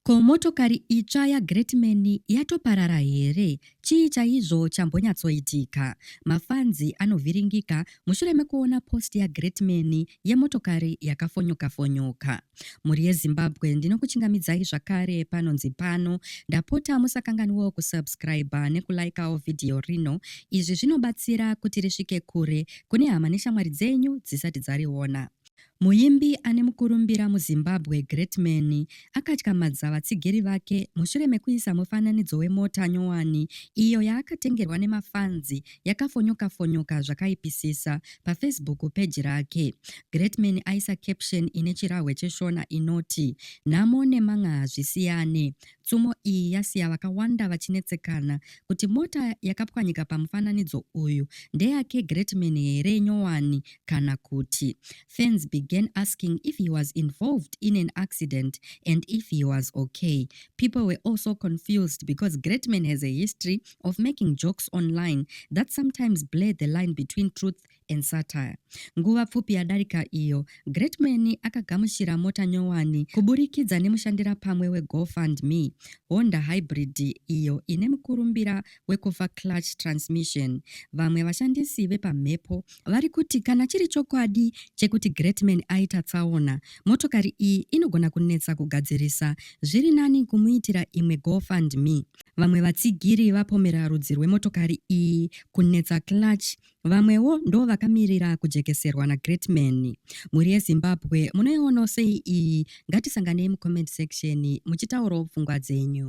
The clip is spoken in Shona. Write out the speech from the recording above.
Ko motokari itsva yaGreatman yatoparara here? Chii chaizvo chambonyatsoitika? Mafanzi anovhiringika mushure mekuona post yaGreatman yemotokari yakafonyoka fonyoka. Mhuri yeZimbabwe ndinokuchingamidzai zvakare panonzi pano. Ndapota musakanganwewo kusubscriber nekulikawo vhidhiyo rino. Izvi zvinobatsira kuti risvike kure kune hama neshamwari dzenyu dzisati dzariona. Muimbi ane mukurumbira muZimbabwe, Greatman, akatyamadza vatsigiri vake mushure mekuisa mufananidzo wemota nyowani iyo yaakatengerwa nemafanzi yakafonyoka-fonyoka zvakaipisisa paFacebook peji rake. Greatman aisa caption ine chirahwe cheShona inoti, Nhamo nemanga hazvisiyane, Tsumo iyi yasiya vakawanda vachinetsekana kuti mota yakapwanyika pamufananidzo uyu ndeyake Greatman here nyowani kana kuti. Fans began asking if he was involved in an accident and if he was okay. People were also confused because Greatman has a history of making jokes online that sometimes blur the line between truth and satire. Nguva pfupi yadarika iyo, Greatman akagamuchira mota nyowani kuburikidza nemushandira pamwe weGoFundMe, Honda Hybrid iyo ine mukurumbira wekufa clutch transmission. Vamwe vashandisi vepamhepo vari kuti kana chiri chokwadi chekuti Greatman aita tsaona, motokari iyi inogona kunetsa kugadzirisa, zviri nani kumuitira imwe GoFundMe. Vamwe vatsigiri vapomera rudzi rwemotokari iyi kunetsa clutch Vamwewo ndo vakamirira kujekeserwa na Greatman. Mhuri ye Zimbabwe munoionawo sei iyi ngatisanganei mu comment section muchitaurawo pfungwa dzenyu.